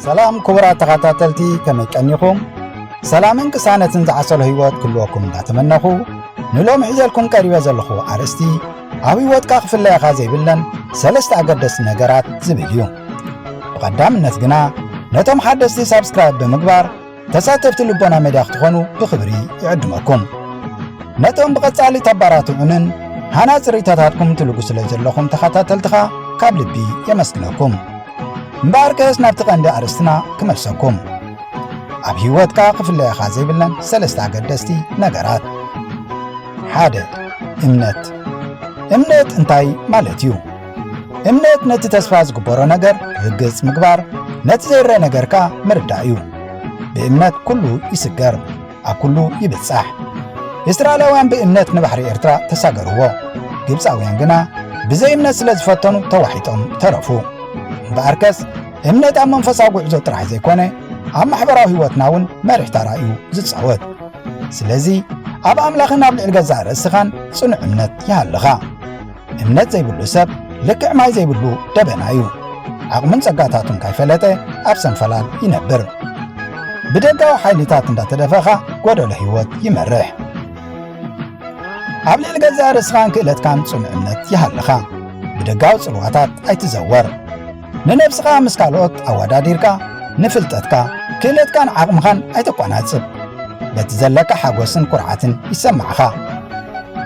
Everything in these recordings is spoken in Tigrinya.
ሰላም ክቡራት ተኸታተልቲ ከመይ ቀኒኹም ሰላምን ቅሳነትን ዝዓሰሎ ህይወት ክህልወኩም እንዳተመነኹ ንሎሚ ሒዘልኩም ቀሪበ ዘለኹ ኣርእስቲ ኣብ ህይወትካ ክፍለየኻ ዘይብለን ሰለስተ ኣገደስቲ ነገራት ዝብል እዩ ብቐዳምነት ግና ነቶም ሓደስቲ ሳብስክራይብ ብምግባር ተሳተፍቲ ልቦና ሜድያ ክትኾኑ ብኽብሪ ይዕድመኩም። ነቶም ብቐጻሊ ተባራትዑንን ሃናጽ ርእይቶታትኩም ትልጉ ስለ ዘለኹም ተኸታተልትኻ ካብ ልቢ የመስግነኩም። እምበኣር ከስ ናብቲ ቀንዲ ኣርእስትና ክመልሰኩም ኣብ ህይወትካ ክፍለየኻ ዘይብለን ሰለስተ ኣገደስቲ ነገራት ሓደ እምነት እምነት እንታይ ማለት እዩ? እምነት ነቲ ተስፋ ዝግበሮ ነገር ርግጽ ምግባር ነቲ ዘይረ ነገር ከኣ ምርዳእ እዩ ብእምነት ኩሉ ይስገር ኣብ ኩሉ ይብጻሕ እስራኤላውያን ብእምነት ንባሕሪ ኤርትራ ተሳገርዎ ግብፃውያን ግና ብዘይ እምነት ስለ ዝፈተኑ ተዋሒጦም ተረፉ እምበኣርከስ እምነት ኣብ መንፈሳዊ ጉዕዞ ጥራሕ ዘይኮነ ኣብ ማሕበራዊ ህይወትና እውን መሪሕ ታራ እዩ ዝጻወት ስለዚ ኣብ ኣምላኽን ኣብ ልዕሊ ገዛእ ርእስኻን ጽኑዕ እምነት ይሃልኻ እምነት ዘይብሉ ሰብ ልክዕ ማይ ዘይብሉ ደበና እዩ ዓቕሙን ጸጋታቱን ካይፈለጠ ኣብ ሰንፈላል ይነብር ብደጋዊ ሓይልታት እንዳተደፈኻ ጐደሎ ህይወት ይመርሕ ኣብ ልዕሊ ገዛእ ርእስኻን ክእለትካን ጽኑዕ እምነት ይሃልኻ ብደጋዊ ጽልዋታት ኣይትዘወር ንነብስኻ ምስ ካልኦት ኣወዳዲርካ ንፍልጠትካ፣ ክእለትካን ዓቕምኻን ኣይተቋናጽብ። በቲ ዘለካ ሓጎስን ኩርዓትን ይሰማዕኻ።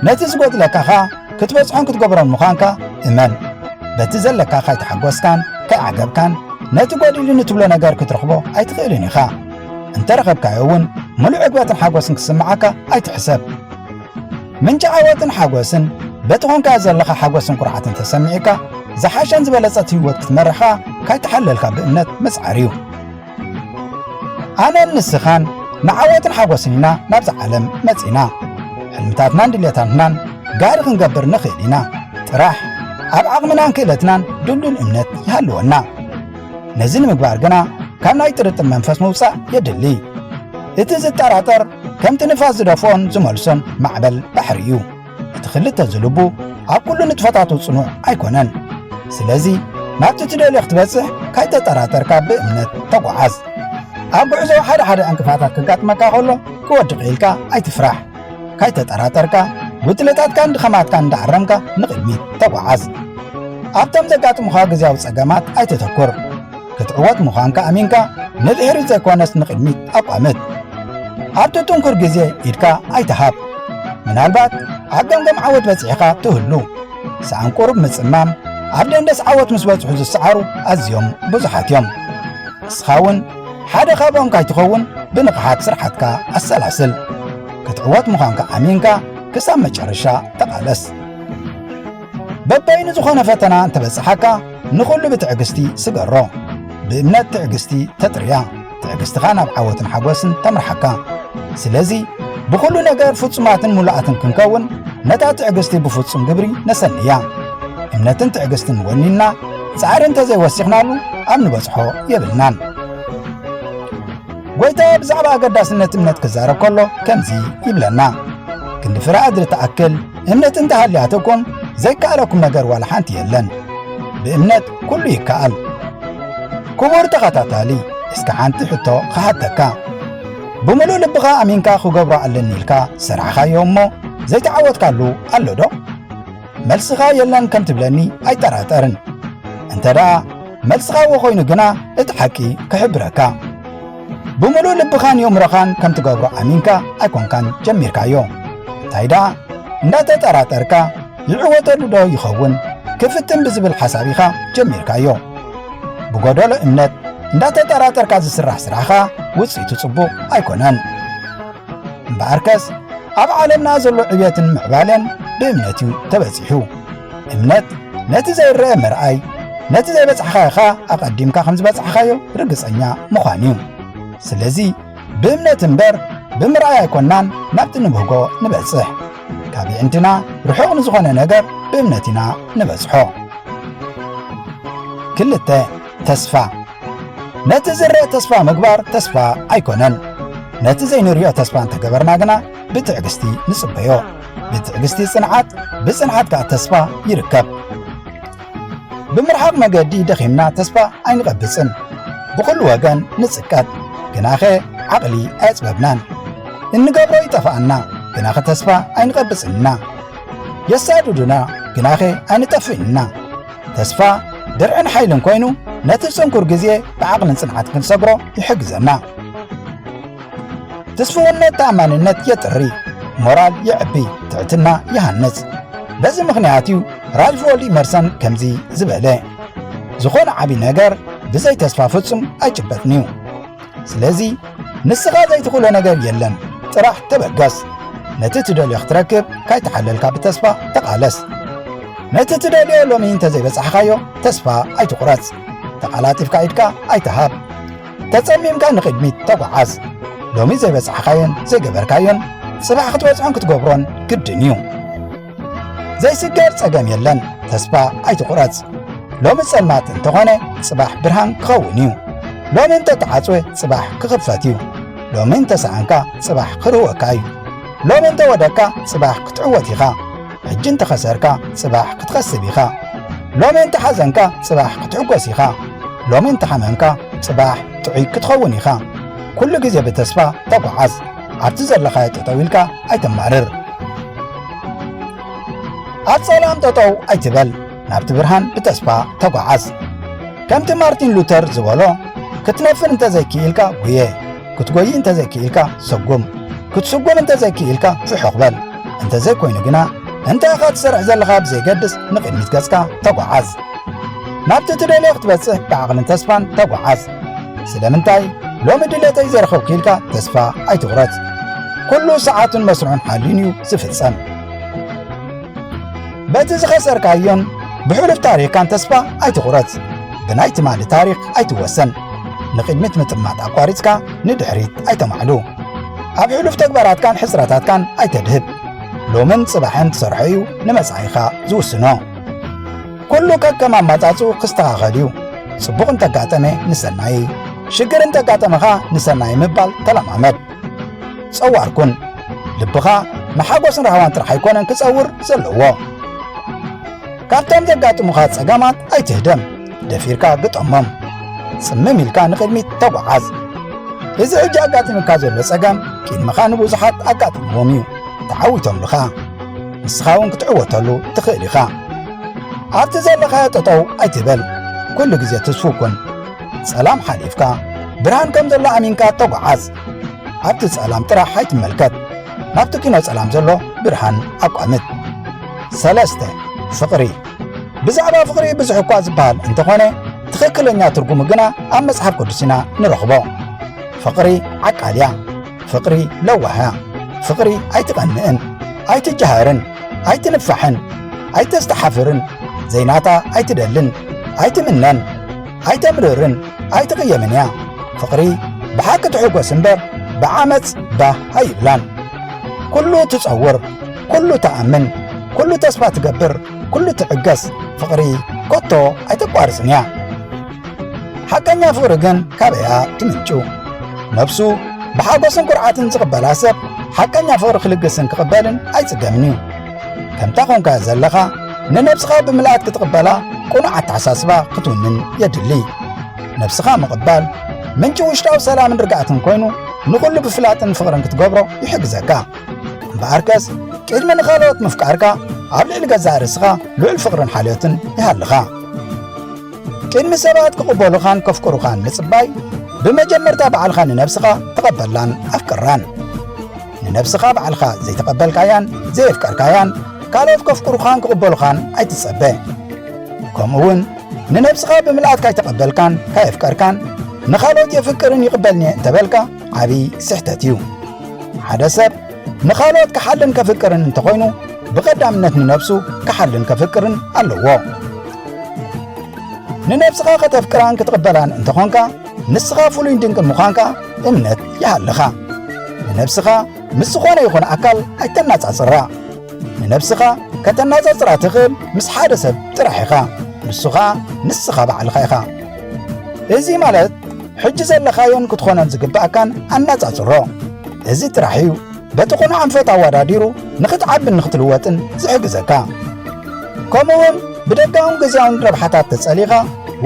ነቲ ዝጎድለካ ከኣ ክትበጽሖን ክትገብሮን ምዃንካ እመን። በቲ ዘለካ ካይተሓጎስካን ካይዓገብካን ነቲ ጎዲሉኒ ትብሎ ነገር ክትረኽቦ ኣይትኽእልን ኢኻ። እንተረኸብካዮ እውን ምሉእ ዕግበትን ሓጎስን ክስምዓካ ኣይትሕሰብ። ምንጪ ዓወትን ሓጎስን በቲ ኾንካዮ ዘለኻ ሓጎስን ኩርዓትን ተሰሚዑካ ዝሓሸን ዝበለጸት ህይወት ክትመርሕ ከኣ ካይተሓለልካ ብእምነት ምጽዓር እዩ ኣነን ንስኻን ንዓወትን ሓጎስን ኢና ናብዛ ዓለም መጺና ሕልምታትናን ድልየታትናን ጋሪ ክንገብር ንኽእል ኢና ጥራሕ ኣብ ዓቕምናን ክእለትናን ድልዱል እምነት ይሃልወና ነዚ ንምግባር ግና ካብ ናይ ጥርጥር መንፈስ ምውፃእ የድሊ እቲ ዝጠራጠር ከምቲ ንፋስ ዝደፍኦን ዝመልሶን ማዕበል ባሕሪ እዩ እቲ ክልተ ዝልቡ ኣብ ኩሉ ንጥፈታቱ ጽኑዕ ኣይኮነን ስለዚ ናብቲ ትደልዮ ክትበጽሕ ካይተጠራጠርካ ብእምነት ተጓዓዝ ኣብ ጉዕዞ ሓደ ሓደ ዕንቅፋታት ከጋጥመካ ከሎ ክወድቕ ኢልካ ኣይትፍራሕ ካይተጠራጠርካ ጉድለታትካን ድኸማትካን እንዳኣረምካ ንቕድሚት ተጓዓዝ። ኣብቶም ዘጋጥሙኻ ግዝያዊ ጸገማት ኣይተተኩር። ክትዕወት ምዃንካ ኣሚንካ ንድሕሪት ዘይኮነስ ንቕድሚት ኣቋምት። ኣብቲ ጥንኩር ግዜ ኢድካ ኣይትሃብ። ምናልባት ኣብ ገምገም ዓወት በጺሕኻ ትህሉ። ሰኣን ቁሩብ ምጽማም ኣብ ደንደስ ዓወት ምስ በጽሑ ዝሰዓሩ ኣዝዮም ብዙሓት እዮም። ንስኻ እውን ሓደ ካብኦም ካይትኸውን ብንቕሓት ስርሓትካ ኣሰላስል። ክትዕወት ምዃንካ ኣሚንካ ክሳብ መጨረሻ ተቓለስ። በበይኑ ዝኾነ ፈተና እንተበጽሓካ ንኹሉ ብትዕግስቲ ስገሮ። ብእምነት ትዕግስቲ ተጥርያ ትዕግስትኻ ናብ ዓወትን ሓጎስን ተምርሓካ ስለዚ ብኹሉ ነገር ፍጹማትን ሙሉኣትን ክንከውን ነታ ትዕግስቲ ብፍጹም ግብሪ ነሰንያ እምነትን ትዕግስትን ወኒና ጻዕሪ እንተዘይወሲኽናሉ ኣብ ንበጽሖ የብልናን ጐይታ ብዛዕባ ኣገዳስነት እምነት ክዛረብ ከሎ ከምዚ ይብለና ክንዲ ፍረ ኣድሪ ትኣክል እምነት እንተሃልያትኩም ዘይከኣለኩም ነገር ዋላ ሓንቲ የለን ብእምነት ኩሉ ይከኣል ክቡር ተኸታታሊ እስከ ሓንቲ ሕቶ ኸሓተካ ብምሉእ ልብኻ ኣሚንካ ክገብሮ ኣለኒ ኢልካ ዝሰርዕኻዮ እሞ ዘይተዓወትካሉ ኣሎ ዶ መልስኻ የለን ከም ትብለኒ ኣይጠራጠርን እንተ ደኣ መልስኻ እዎ ኮይኑ ግና እቲ ሓቂ ክሕብረካ ብምሉእ ልብኻን የእምሮኻን ከም ትገብሮ ኣሚንካ ኣይኮንካን ጀሚርካዮ እንታይ ደኣ እንዳተጠራጠርካ ይዕወተሉ ዶ ይኸውን ክፍትን ብዝብል ሓሳብ ኢኻ ጀሚርካዮ ብጎደሎ እምነት እንዳተጠራጠርካ ዝስራሕ ስራሕኻ ውፅኢቱ ጽቡቕ ኣይኮነን እምበኣርከስ ኣብ ዓለምና ዘሎ ዕብየትን ምዕባለን ብእምነት እዩ ተበጺሑ እምነት ነቲ ዘይረአ ምርኣይ ነቲ ዘይበጽሕኻኻ ኣቐዲምካ ከም ዝበጽሕኻዮ ርግጸኛ ምዃን እዩ ስለዚ ብእምነት እምበር ብምርኣይ ኣይኮናን ናብቲ ንብህጎ ንበጽሕ ካብ ይዕንትና ርሑቕ ንዝኾነ ነገር ብእምነት ኢና ንበጽሖ ክልተ ተስፋ ነቲ ዝርእ ተስፋ ምግባር ተስፋ ኣይኮነን ነቲ ዘይንሪኦ ተስፋ እንተገበርና ግና ብትዕግስቲ ንጽበዮ ብትዕግስቲ ጽንዓት ብጽንዓት ከዓ ተስፋ ይርከብ ብምርሓቕ መገዲ ደኺምና ተስፋ ኣይንቐብጽን ብኹሉ ወገን ንጽቀጥ ግናኸ ዓቕሊ ኣየጽበብናን እንገብሮ ይጠፋኣና ግናኸ ተስፋ ኣይንቐብጽን ኢና የሳድዱና ግናኸ ኣይንጠፍእን ኢና ተስፋ፣ ድርዕን ሓይልን ኮይኑ ነቲ ጽንኩር ግዜ ብዓቕልን ጽንዓት ክንሰግሮ ይሕግዘና። ትስፍውነት ተኣማንነት የጥሪ፣ ሞራል የዕቢ፣ ትዕትና ይሃንጽ። በዚ ምኽንያት እዩ ራልፎልድ ኢመርሰን ከምዚ ዝበለ ዝኾነ ዓብዪ ነገር ብዘይ ተስፋ ፍጹም ኣይጭበጥን እዩ። ስለዚ ንስኻ ዘይትኽእሎ ነገር የለን ጥራሕ ተበገስ ነቲ ትደልዮ ክትረክብ ካይተሓለልካ ብተስፋ ተቓለስ ነቲ ትደልዮ ሎሚ እንተዘይበጻሕኻዮ ተስፋ ኣይትቑረጽ ተቓላጢፍካ ኢድካ ኣይትሃብ ተጸሚምካ ንቕድሚት ተጓዓዝ ሎሚ ዘይበጻሕኻዮን ዘይገበርካዮን ጽባሕ ክትበጽሖን ክትገብሮን ግድን እዩ ዘይስገር ጸገም የለን ተስፋ ኣይትቑረጽ ሎሚ ጸልማት እንተኾነ ጽባሕ ብርሃን ክኸውን እዩ ሎሚ እንተተዓጽወ ጽባሕ ክኽፈት እዩ ሎሚ እንተሰኣንካ ጽባሕ ክርህወካ እዩ ሎሚ እንተወደቅካ ጽባሕ ክትዕወት ኢኻ ሕጂ እንተኸሰርካ ጽባሕ ክትኸስብ ኢኻ ሎሚ እንተሓዘንካ ጽባሕ ክትዕጎስ ኢኻ ሎሚ እንተሓመምካ ጽባሕ ጥዑይ ክትኸውን ኢኻ ኩሉ ግዜ ብተስፋ ተጓዓዝ ኣብቲ ዘለኻዮ ጠጠው ኢልካ ኣይተማርር ኣብ ጸላም ጠጠው ኣይትበል ናብቲ ብርሃን ብተስፋ ተጓዓዝ ከምቲ ማርቲን ሉተር ዝበሎ ክትነፍር እንተዘይክኢልካ ጉየ ክትጎይ እንተዘይክኢልካ ሰጉም ክትስጉም እንተዘይክኢልካ ፍሑኽ በል እንተዘይኮይኑ ግና እንታይ ኢኻ ትሰርሕ ዘለኻ ብዘይገድስ ንቕድሚት ገጽካ ተጓዓዝ ናብቲ ትደልዮ ክትበጽሕ ብዓቕልን ተስፋን ተጓዓዝ ስለምንታይ ሎሚ ድሌተይ ዘረኸብኩ ኢልካ ተስፋ ኣይትቑረጽ ኩሉ ሰዓቱን መስርዑን ሓልዩን እዩ ዝፍጸም በቲ ዝኸሰርካዮን ብሕሉፍ ታሪኽካን ተስፋ ኣይትቑረጽ ብናይ ትማሊ ታሪኽ ኣይትወሰን ንቕድሚት ምጥማት ኣቋሪጽካ ንድሕሪት ኣይተማዕሉ ኣብ ሕሉፍ ተግባራትካን ሕጽረታትካን ኣይተድህብ ሎምን ጽባሕን ትሰርሖ እዩ ንመጻኢኻ ዝውስኖ ኩሉ ከከም ኣማጻጽኡ ክስተኻኸል እዩ። ጽቡቕ እንተጋጠመ ንሰናይ፣ ሽግር እንተጋጠመ ኸኣ ንሰናይ ምባል ተለማመድ። ጸዋር ኩን። ልብኻ ንሓጎስን ራህዋን ጥራሕ ኣይኮነን ክጸውር ዘለዎ። ካብቶም ዘጋጥሙኻ ጸገማት ኣይትህደም፣ ደፊርካ ግጠሞም። ጽምም ኢልካ ንቕድሚት ተጓዓዝ። እዚ ሕጂ ኣጋጢሙካ ዘሎ ጸገም ቅድመኻ ንብዙሓት ኣጋጢምዎም እዩ፣ ተዓዊቶምልኻ። ንስኻ እውን ክትዕወተሉ ትኽእል ኢኻ ኣብቲ ዘለኻዮ ጠጠው ኣይትበል ኩሉ ግዜ ትስፉ ኩን ጸላም ሓሊፍካ ብርሃን ከም ዘሎ ኣሚንካ ተጓዓዝ ኣብቲ ጸላም ጥራሕ ኣይትመልከት ናብቲ ኪኖ ጸላም ዘሎ ብርሃን ኣቋምት ሰለስተ ፍቕሪ ብዛዕባ ፍቕሪ ብዙሕ እኳ ዝበሃል እንተኾነ ትኽክለኛ ትርጉሙ ግና ኣብ መጽሓፍ ቅዱስና ንረኽቦ ፍቕሪ ዓቃልያ ፍቕሪ ለዋህያ ፍቕሪ ኣይትቐንእን ኣይትጀሃርን ኣይትንፋሕን ኣይተስተሓፍርን ዘይናታ ኣይትደልን ኣይትምነን ኣይተምርርን ኣይትቕየምን እያ ፍቕሪ ብሓቂ ትሕጐስ እምበር ብዓመፅ ባህ ኣይብላን ኩሉ ትጸውር ኩሉ ትኣምን ኩሉ ተስፋ ትገብር ኩሉ ትዕገስ ፍቕሪ ኮቶ ኣይተቋርፅን እያ ሓቀኛ ፍቕሪ ግን ካበያ ትምንጩ? ነፍሱ ብሓጎስን ኩርዓትን ዝቕበላ ሰብ ሓቀኛ ፍቕሪ ክልግስን ክቕበልን ኣይጽገምን እዩ። ከምታ ኾንካ ዘለኻ ንነብስኻ ብምልኣት ክትቕበላ ቁኑዕ ኣተሓሳስባ ክትውንን የድሊ። ነብስኻ ምቕባል ምንጪ ውሽጣዊ ሰላምን ርግኣትን ኮይኑ ንኹሉ ብፍላጥን ፍቕርን ክትገብሮ ይሕግዘካ። እምበኣርከስ ቅድሚ ንኻልኦት ምፍቃርካ ኣብ ልዕሊ ገዛእ ርእስኻ ልዑል ፍቕርን ሓልዮትን ይሃልኻ። ቅድሚ ሰባት ክቕበሉኻን ከፍቅሩኻን ምጽባይ ብመጀመርታ ባዕልኻ ንነብስኻ ተቐበላን ኣፍቅራን ንነብስኻ ባዕልኻ ዘይተቐበልካያን ዘየፍቀርካያን ካልኦት ከፍቅሩኻን ክቕበሉኻን ኣይትጸበ ከምኡ እውን ንነብስኻ ብምልኣት ካይተቐበልካን ካየፍቀርካን ንኻልኦት የፍቅርን ይቕበልኒ እንተበልካ ዓብዪ ስሕተት እዩ ሓደ ሰብ ንኻልኦት ክሓልን ከፍቅርን እንተኾይኑ ብቐዳምነት ንነብሱ ክሓልን ከፍቅርን ኣለዎ ንነብስኻ ከተፍቅራን ክትቕበላን እንተኾንካ ንስኻ ፍሉይን ድንቅን ምዃንካ እምነት ይሃልኻ ንነብስኻ ምስ ዝኾነ ይኹን ኣካል ኣይተናጻጽራ ንነብስኻ ከተናጻጽራ ትኽእል ምስ ሓደ ሰብ ጥራሕ ኢኻ ንሱ ኸኣ ንስኻ ባዕልኻ ኢኻ እዚ ማለት ሕጂ ዘለኻዮን ክትኾኖን ዝግብኣካን ኣነጻጽሮ። እዚ ጥራሕ እዩ በቲ ኹኑ ኣንፈት ኣወዳዲሩ ንኽትዓብን ንኽትልወጥን ዝሕግዘካ። ከምኡውን ብደጋውን ግዜያውን ረብሓታት ተጸሊኻ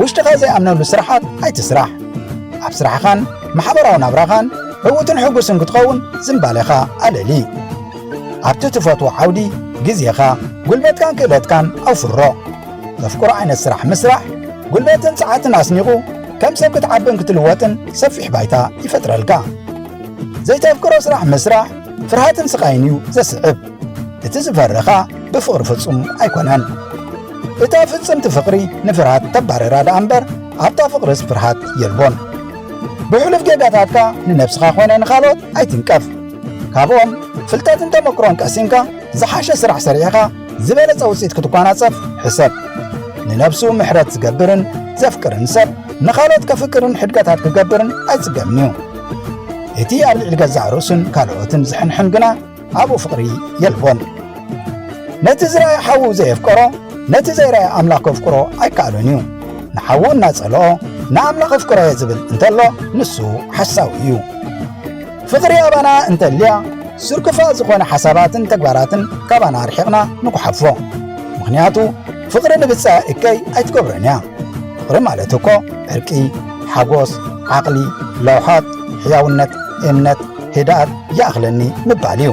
ውሽጥኻ ዘይኣምነሉ ስራሓት ኣይትስራሕ። ኣብ ስራሕኻን ማሕበራዊ ናብራኻን ዕዉትን ሕጉስን ክትኸውን ዝምባሌኻ ኣለሊ። ኣብቲ ትፈትዎ ዓውዲ ግዜኻ፣ ጉልበትካን ክእለትካን ኣውፍሮ። መፍቅሮ ዓይነት ስራሕ ምስራሕ ጉልበትን ጸዓትን ኣስኒቑ ከም ሰብ ክትዓብን ክትልወጥን ሰፊሕ ባይታ ይፈጥረልካ ዘይተፍቅሮ ስራሕ ምስራሕ ፍርሃትን ስቓይን እዩ ዘስዕብ እቲ ዝፈረኻ ብፍቕሪ ፍጹም ኣይኮነን እታ ፍጽምቲ ፍቕሪ ንፍርሃት ተባረራ ደኣ እምበር ኣብታ ፍቕርስ ፍርሃት የልቦን ብሕሉፍ ጌጋታትካ ንነብስኻ ኮነ ንኻልኦት ኣይትንቀፍ ካብኦም ፍልጠትን ተመክሮን ቀሲምካ ዝሓሸ ስራሕ ሰሪዕኻ ዝበለጸ ውጽኢት ክትጓናጸፍ ሕሰብ። ንነብሱ ምሕረት ዝገብርን ዘፍቅርን ሰብ ንኻልኦት ከፍቅርን ሕድገታት ክገብርን ኣይጽገምን እዩ። እቲ ኣብ ልዕሊ ገዛእ ርእሱን ካልኦትን ዝሕንሕን ግና ኣብኡ ፍቕሪ የልቦን። ነቲ ዝረኣየ ሓዉ ዘየፍቀሮ ነቲ ዘይረኣየ ኣምላኽ ከፍቅሮ ኣይከኣሎን እዩ። ንሓዉ እናጸልኦ ንኣምላኽ ኣፍቅሮየ ዝብል እንተሎ ንሱ ሓሳዊ እዩ። ፍቕሪ ኣባና እንተልያ ስርክፋ ዝኾነ ሓሳባትን ተግባራትን ካባና ኣርሒቕና ንጉሓፎ ምኽንያቱ ፍቕሪ ንብፃ እከይ ኣይትገብረን እያ ፍቕሪ ማለት እኮ ዕርቂ ሓጎስ ዓቕሊ ለውሓት ሕያውነት እምነት ህድኣት ይኣኽለኒ ምባል እዩ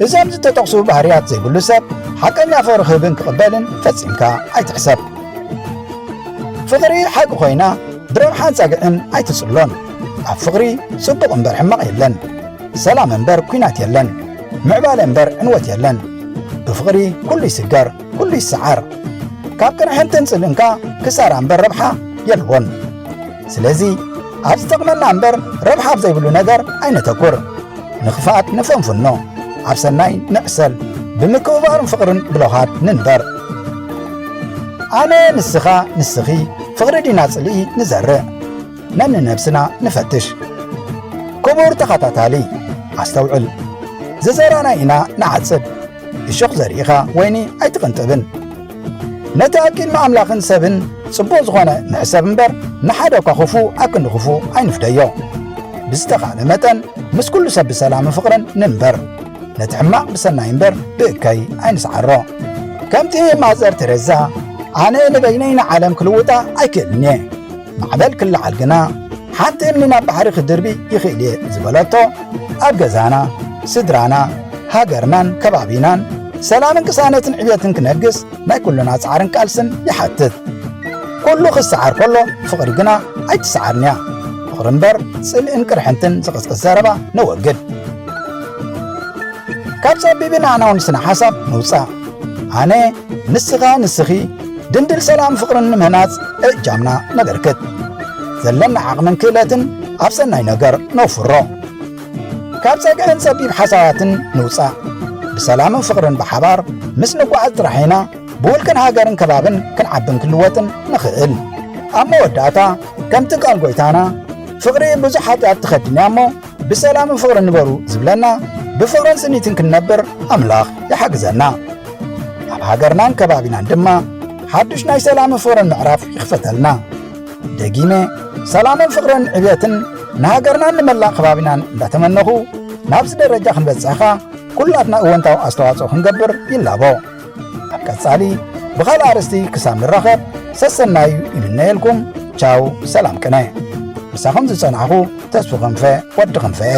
እዞም ዝተጠቕሱ ባህርያት ዘይብሉ ሰብ ሓቀኛ ፍቕሪ ክህብን ክቕበልን ፈጺምካ ኣይትሕሰብ ፍቕሪ ሓቂ ኮይና ድሮን ሓንጻግዕን ኣይትጽሎን ኣብ ፍቕሪ ጽቡቕ እምበር ሕማቕ የለን ሰላም እምበር ኲናት የለን ምዕባለ እምበር ዕንወት የለን ብፍቕሪ ኩሉ ይስገር ኩሉ ይሰዓር ካብ ቅርሕንትን ጽልእንካ ክሳራ እምበር ረብሓ የልቦን ስለዚ ኣብ ዝጠቕመና እምበር ረብሓ ኣብ ዘይብሉ ነገር ኣይነተኩር ንኽፍኣት ንፈንፍኖ ኣብ ሰናይ ንዕሰል ብምክብባርን ፍቕርን ብለውሃት ንንበር ኣነ ንስኻ ንስኺ ፍቕሪ ዲና ጽልኢ ንዘርእ ነንነብስና ንፈትሽ ክቡር ተኸታታሊ ኣስተውዕል ዝዘራና ኢና ንዓጽድ እሾኽ ዘሪእኻ ወይኒ ኣይትቕንጥብን ነቲ ኣኪል ንኣምላኽን ሰብን ጽቡቕ ዝኾነ ንሕሰብ እምበር ንሓደ እኳ ክፉ ኣክንዲ ክፉ ኣይንፍደዮ ብዝተኻእለ መጠን ምስ ኩሉ ሰብ ብሰላምን ፍቕርን ንንበር ነቲ ሕማቕ ብሰናይ እምበር ብእከይ ኣይንስዓሮ ከምቲ ማዘር ተረዛ ኣነ ንበይነይ ንዓለም ክልውጣ ኣይክእልን እየ ማዕበል ክለዓል ግና ሓንቲ እምኒ ናብ ባሕሪ ክድርቢ ይኽእል እየ ዝበለቶ ኣብ ገዛና ስድራና ሃገርናን ከባቢናን ሰላምን ቅሳነትን ዕብየትን ክነግስ ናይ ኩሉና ጻዕርን ቃልስን ይሓትት ኩሉ ክሰዓር ከሎ ፍቕሪ ግና ኣይትሰዓርን እያ ፍቕሪ እምበር ጽልእን ቅርሕንትን ዝቕስቅስ ዘረባ ነወግድ ካብ ጸቢብን ኣናውን ስነ ሓሳብ ንውጻእ ኣነ ንስኻ ንስኺ ድንድል ሰላም ፍቕርን ንምህናጽ እጃምና ነበርክት ዘለና ዓቕምን ክእለትን ኣብ ሰናይ ነገር ነውፍሮ ካብ ጸግዕን ጸቢብ ሓሳባትን ንውጻእ ብሰላምን ፍቕርን ብሓባር ምስ ንጓዓዝ ጥራሕ ኢና ብውልቅን ሃገርን ከባብን ክንዓብን ክንልወጥን ንኽእል ኣብ መወዳእታ ከምቲ ቃል ጐይታና ፍቕሪ ብዙሕ ሓጢኣት ትኸድንያ እሞ ብሰላምን ፍቕርን ንበሩ ዝብለና ብፍቕርን ስኒትን ክንነብር ኣምላኽ ይሓግዘና ኣብ ሃገርናን ከባቢናን ድማ ሓዱሽ ናይ ሰላምን ፍቕርን ምዕራፍ ይኽፈተልና ደጊመ ሰላምን ፍቕርን ዕብየትን ንሃገርናን ንመላእ ከባቢናን እንዳተመነኹ ናብዚ ደረጃ ክንበጽሕኻ ኵላትና እወንታዊ ኣስተዋጽኦ ክንገብር ይላቦ ኣብ ቀጻሊ ብኻልእ ኣርእስቲ ክሳብ ንራኸብ ሰሰናዩ ይምነየልኩም ቻው ሰላም ቅነ ምሳኹም ዝጸናሕኹ ተስፉ ክንፈ ወዲ ክንፈ እየ